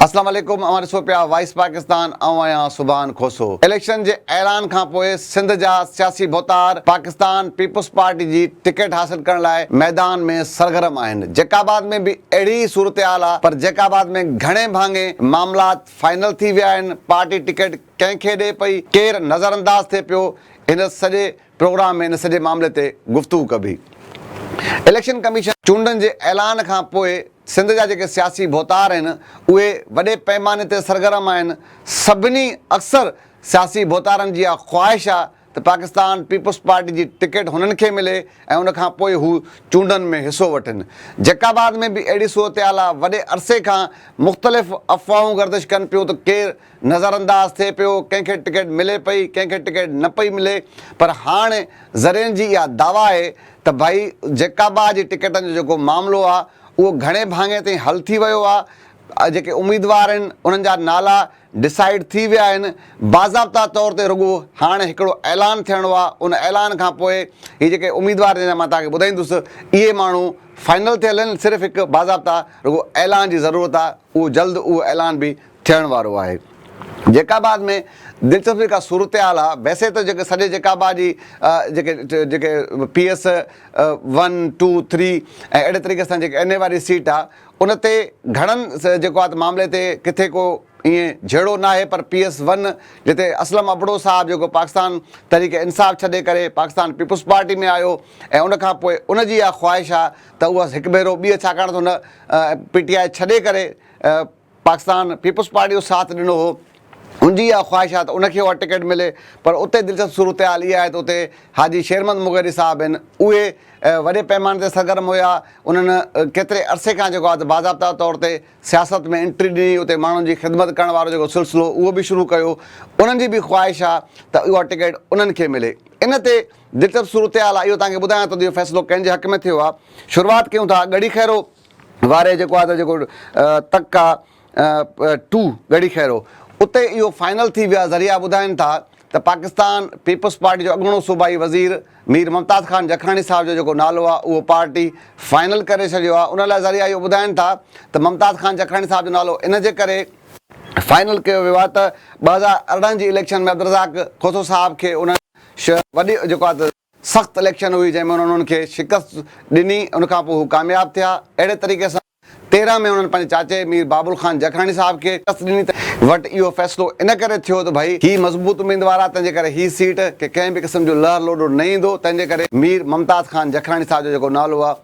اسلام عليڪم اوهان ڏسو پيا وائس پاڪستان آئون آهيان سبحان کوسو اليڪشن جي اعلان کانپوء سنڌ جا سياسي ڀوتار پاڪستان پيپلز پارٽي جي ٽڪيٽ حاصل ڪرڻ لاء ميدان ۾ سرگرم آهن جيڪب آباد ۾ به اهڙي ئي صورتحال آهي پر جيڪب آباد ۾ گهڻي ڀاڱي معاملات فائنل ٿي ويا آهن پارٽي ٽڪيٽ ڪنهن کي ڏي پئي، ڪير نظر انداز ٿئي پيو، هن سڄي پروگرام ۾ ان سڄي معاملي تي گفتگو ڪبي. اليڪشن ڪميشن چونڊن جي اعلان کان پوء سنڌ جا جيڪي سياسي ڀوتار آهن اهي وڏي پئماني تي سرگرم آهن، سڀني اڪثر سياسي ڀوتارن جي اها خواهش آهي، ته پاڪستان پيپلز پارٽي جي ٽڪيٽ هنن کي ملي ۽ ان کان پوء هو چونڊن ۾ حصو وٺن. جيڪب آباد ۾ به اهڙي صورتحال آ، وڏي عرصي کان مختلف افواهون گردش ڪن پيون ته ڪير نظرانداز ٿئي پيو، ڪنهن کي ٽڪيٽ ملي پئي، ڪنهن کي ٽڪيٽ نه پئي ملي پر هاڻ ذريعن جي اها دعويٰ آهي ته ڀائي جيڪابا جي ٽڪيٽن جو جيڪو معاملو آ اهو گهڻي ڀاڱي تائين حل ٿي ويو آ، جيڪي اميدوار آهن انهن جا نالا ڊسائيڊ ٿي ويا آهن باضابطا طور تي رڳو هاڻ هڪڙو اعلان ٿيڻو آهي ان اعلان کان پوء هي جيڪي اميدوار جن جا مان توهان کي ٻڌائيندس اهي ماڻهو فائنل ٿيل آهن صرف هڪ باضابطا رڳو اعلان جي ضرورت آهي اهو جلد اهو اعلان به ٿيڻ وارو آهي جيڪاباد ۾ دلچسپ جيڪا صورتحال آهي ويسي ته جيڪي سڄي جيڪاباد جي جيڪي جيڪي P S one two three ۽ اهڙي طريقي سان جيڪي اين اي واري سيٽ آهي ان تي گهڻن جيڪو آهي ته معاملي تي ڪٿي ڪو ائين جهيڙو ناهي پر پي ايس ون جتي اسلم ابڙو صاحب جيڪو پاڪستان تحريڪ انصاف ڇڏي ڪري پاڪستان پيپلز پارٽي ۾ آيو ۽ ان کان پوء ان جي اها خواهش آهي ته اهو هڪ ڀيرو ٻيهر ڇاڪاڻ ته هن پي ٽي آء ڇڏي ڪري پاڪستان پيپلز پارٽي جو ساٿ ڏنو هو هن جي اها خواهش آهي ته ان کي اها ٽڪيٽ ملي پر اتي دلچسپ صورتحال اها آهي ته اتي حاجي شيرمحمد مغيري صاحب هن اهي وڏي پئماني تي سرگرم هيا انهن ڪيتري عرصي کان جيڪو آهي ته باضابطه طور تي سياست ۾ انٽري ڏني اتي ماڻهن جي خدمت ڪرڻ وارو جيڪو سلسلو اهو به شروع ڪيو انهن جي به خواهش آهي ته اها ٽڪيٽ انهن کي ملي ان تي دلچسپ صورتحال آهي اهو توهان کي ٻڌايان ٿو ته اهو فيصلو ڪنهن جي حق ۾ ٿيو آهي شروعات ڪيون ٿا ڳڙهي خيرو واري جيڪو آهي ته جيڪو تڪ آهي ٽو ڳڙهي خيرو اتي اهو فائنل ٿي ويو آهي ذريعا ٻڌائين ٿا ته پاڪستان پيپلز پارٽي جو اڳوڻو صوبائي وزير مير ممتاز خان جکاڻي صاحب جو جيڪو نالو آهي اهو پارٽي فائنل ڪري ڇڏيو آهي ان لاء ذريعا اهو ٻڌائين ٿا ته ممتاز خان جکاڻي صاحب جو نالو ان جي ڪري فائنل ڪيو ويو آهي ته ٻه هزار ارڙهن جي اليڪشن ۾ عبدالرزاق کوسو صاحب کي انهن وڏي جيڪو آهي ته. سخت اليڪشن هئي جنهن ۾ انهن انهن کي شڪست ڏني ان کان پوء هو ڪامياب ٿيا اهڙي طريقي سان تيرهن ۾ انهن پنهنجي چاچي مير بابل خان جکڻاڻي صاحب کي شڪست ڏني ته وٽ اهو فيصلو ان ڪري ٿيو ته ڀئي هي مضبوط اميدوار آهي تنهنجي ڪري هي سيٽ کي ڪنهن به قسم جو لهر لوڏو نه ايندو تنهنجي ڪري مير ممتاز خان جکڻاڻي صاحب جو جيڪو نالو آهي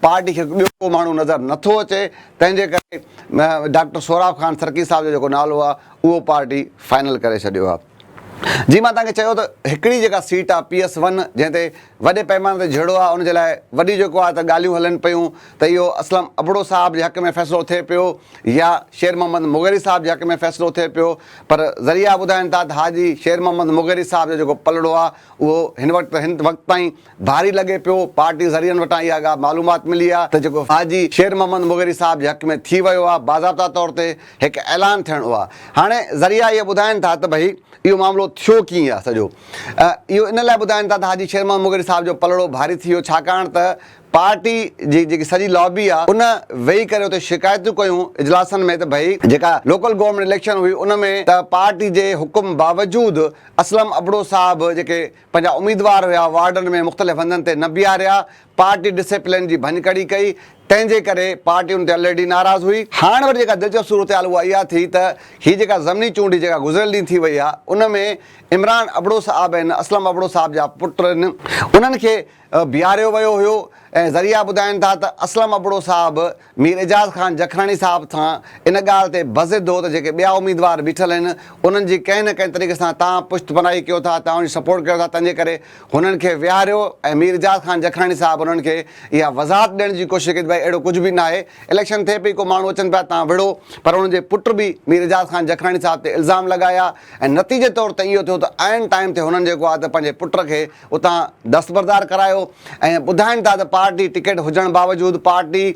پارٽي کي ٻيو ڪو ماڻهو نظر نه ٿو اچي تنهن جي ڪري ڊاڪٽر سهراب خان سرڪي صاحب جو جيڪو نالو آهي اهو پارٽي فائنل ڪري ڇڏيو آهي. جيئن مان توهان کي چيو ته هڪڙي جيڪا سيٽ آهي پي ايس ون جنهن تي وڏي پيماني تي جهيڙو آهي ان جي لاء وڏي جيڪو آهي ته ڳالهيون هلن پيون ته اهو اسلم ابڙو صاحب جي حق ۾ فيصلو ٿئي پيو يا شير محمد مغيري صاحب جي حق ۾ فيصلو ٿئي پيو پر ذريعا ٻڌائين ٿا ته حاجي شير محمد مغيري صاحب جو جيڪو پلڙو آهي اهو هن وقت هن وقت تائين ڀاري لڳي پيو، پارٽي ذريعن وٽان اها ڳالهه معلومات ملي آهي ته جيڪو حاجي شير محمد مغيري صاحب جي حق ۾ ٿي ويو آهي باضابطا طور تي هڪ اعلان ٿيڻو آهي هاڻي ذريعا اهي ٻڌائين ٿا ته ڀئي اهو معاملو ٿيو ڪيئن آهي سڄو اهو ان لاء ٻڌائين ٿا ته حاجي شير محمد مغيري صاحب جو پلڙو ڀاري ٿي ويو ڇاڪاڻ ته پارٽي جي جيڪي سڄي لابي آهي ان ويهي ڪري اتي شڪايتون ڪيون اجلاسن ۾ ته ڀئي جيڪا لوڪل گورنمينٽ اليڪشن هئي ان ۾ ته پارٽي جي حڪم باوجود اسلم ابڙو صاحب جيڪي پنهنجا اميدوار هيا، وارڊن ۾ مختلف هنڌن تي نه بيهاريا، پارٽي ڊسيپلين جي ڀڃڪڙي ڪئي، تنهن جي ڪري پارٽي ان تي الريڊي ناراض هئي. هاڻ وري جيڪا دلچسپ صورتحال اها اها ٿي ته هي جيڪا ضمني چونڊ جيڪا گذريل ڏينهن ٿي وئي آهي، ان ۾ عمران ابڙو صاحب ۽ اسلم ابڙو صاحب جا پٽ ان انهن کي بيهاريو ويو هيو ۽ ذريعا ٻڌائين ٿا ته اسلم ابڙو صاحب مير اعجاز خان جکراڻي صاحب سان ان ڳالهه تي بضد هو ته جيڪي ٻيا اميدوار بيٺل آهن انهن جي ڪنهن نه ڪنهن طريقي سان توهان پشت پناهي ڪيو ٿا توهان جي سپورٽ ڪيو ٿا تنهن جي ڪري هنن کي ويهاريو ۽ مير اعجاز خان جکراڻي صاحب انهن کي اها وضاحت ڏيڻ جي ڪوشش ڪئي ته ڀائي اهڙو ڪجهه به ناهي اليڪشن ٿئي پئي ڪو ماڻهو اچن پيا توهان وڙهو پر انهن جي پٽ به مير اعجاز خان جکراڻي صاحب تي الزام لڳايا ۽ نتيجي طور تي اهو ٿيو ته عين ٽائيم تي هنن جيڪو آهي ته پنهنجي پٽ کي اتان دستبردار ڪرايو ۽ ٻڌائين ٿا ته پارٽي ٽڪيٽ هجڻ باوجود پارٽي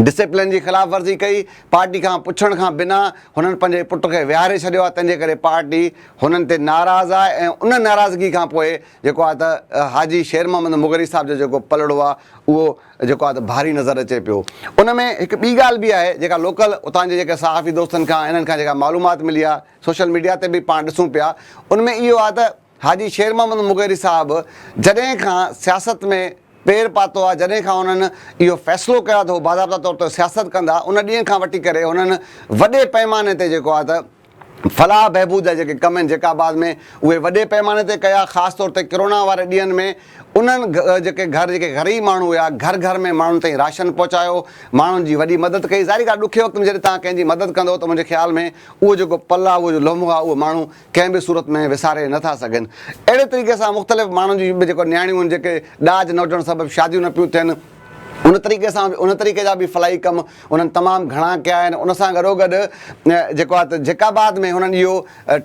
ڊسپلن جي خلاف ورزي ڪئي، پارٽي کان پڇڻ کان بنا هنن پنهنجي پٽ کي ويهاري ڇڏيو آهي تنهنجي ڪري پارٽي هنن تي ناراض آهي ۽ ان ناراضگي کان پوء جيڪو آهي ته حاجي شير محمد مغري صاحب جو جيڪو پلڙو آهي اهو جيڪو آهي ته ڀاري نظر اچي پيو ان ۾ هڪ ٻي ڳالهه به آهي جيڪا لوڪل اتان جي جيڪي صحافي دوستن کان انهن کان جيڪا معلومات ملي آهي سوشل ميڊيا تي به پاڻ ڏسون پيا ان ۾ اهو آهي ته حاجي شير محمد مغيري صاحب جڏهن کان سياست ۾ پير پاتو آهي، جڏهن کان هنن اهو فيصلو ڪيو آهي ته هو باضابطا طور تي سياست ڪندا، ان ڏينهن کان وٺي ڪري هنن وڏي پئماني تي جيڪو آهي ته فلاح بهبود جا جيڪي ڪم آهن جيڪا بعد ۾ اهي وڏي پئماني تي ڪيا، خاص طور تي ڪرونا واري ڏينهن ۾ انهن جيڪي گهر جيڪي غريب ماڻهو هيا، گهر گهر ۾ ماڻهن تائين راشن پهچايو، ماڻهن جي وڏي مدد ڪئي، ظاهري ڳالهه ڏکي وقت ۾ جڏهن توهان ڪنهن جي مدد ڪندو ته منهنجي خيال ۾ اهو جيڪو پل آهي اهو جو لمحو آهي اهو ماڻهو ڪنهن به صورت ۾ وساري نه ٿا سگهن. اهڙي طريقي سان مختلف ماڻهن جون به جيڪو نياڻيون هن جيڪي ڏاج نه هجڻ سبب شاديون نه پيون ٿين ان طريقي سان به ان طريقي جا به فلاحي ڪم انهن تمام گهڻا ڪيا آهن ان سان گڏو گڏ جيڪو آهي ته جيڪا بعد ۾ هنن اهو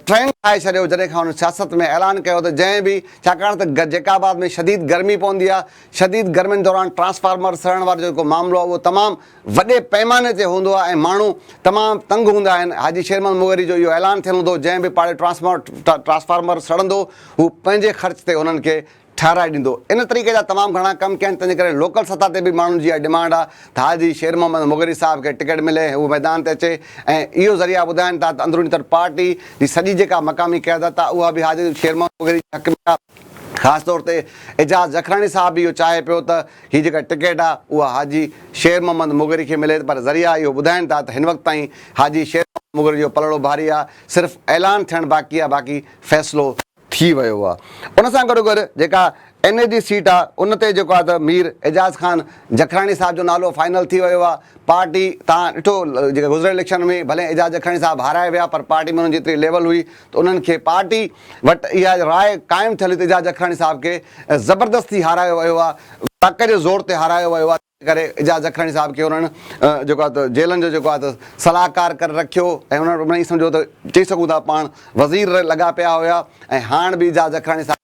ٽرينڊ ٺاهي ڇڏيو جڏهن کان هنن سياست ۾ اعلان ڪيو ته جنهن به ڇاڪاڻ ته جيڪا آباد ۾ شديد گرمي پوندي آهي شديد گرمين دوران ٽرانسفارمر سڙڻ وارو جيڪو معاملو آهي اهو تمام وڏي پئماني تي هوندو آهي ۽ ماڻهو تمام تنگ هوندا آهن، حاجي شير محمد مغري جو اهو اعلان ٿيل هوندو جنهن به پاڙي ٽرانسفارمر سڙندو هو پنهنجي خرچ تي انهن کي ٺهرائي ڏيندو، ان طريقي جا تمام گهڻا ڪم ڪيا آهن تنهنجي ڪري لوڪل سطح تي به ماڻهن جي اها ڊمانڊ آهي ته حاجي شير محمد مغري صاحب کي ٽڪيٽ ملي ۽ هو ميدان تي اچي ۽ اهو ذريعا ٻڌائين ٿا ته اندروني طور پارٽي جي سڄي جيڪا مقامي قيادت آهي اها به حاجي شير محمد مغري جي حق ۾ آهي. خاص طور تي اعجاز جکراڻي صاحب به اهو چاهي پيو ته هي جيڪا ٽڪيٽ آهي اها حاجي شير محمد مغري کي ملي پر ذريعا اهو ٻڌائين ٿا ته هن وقت تائين حاجي شير محمد مغري جو پلڙو ڀاري آهي صرف اعلان ٿيڻ باقي آهي باقي فيصلو ٿي ويو آهي ان سان گڏو گڏ جيڪا اين اي جي سيٽ آهي ان تي جيڪو آهي ته مير اعجاز خان جکراڻي صاحب جو نالو فائنل ٿي ويو آهي پارٽي تان ڏٺو جيڪا گذريل اليڪشن ۾ ڀلي اعجاز جکراڻي صاحب هارائي ويا پر پارٽي ۾ انهن جي ايتري ليول هئي ته انهن کي پارٽي وٽ اها راء قائم ٿيل هئي ته اعجاز جکراڻي صاحب کي زبردستي هارايو ويو آهي، ڌڪ جي زور تي هارايو ويو آهي، تنهن ڪري اعجاز جکراڻي صاحب کي انهن جيڪو آهي ته جيلن جو جيڪو آهي ته صلاحڪار ڪري رکيو ۽ انهن وٽ سمجهو ته چئي سگهون ٿا پاڻ وزير لڳا پيا هيا ۽ هاڻ به اعجاز جکراڻي صاحب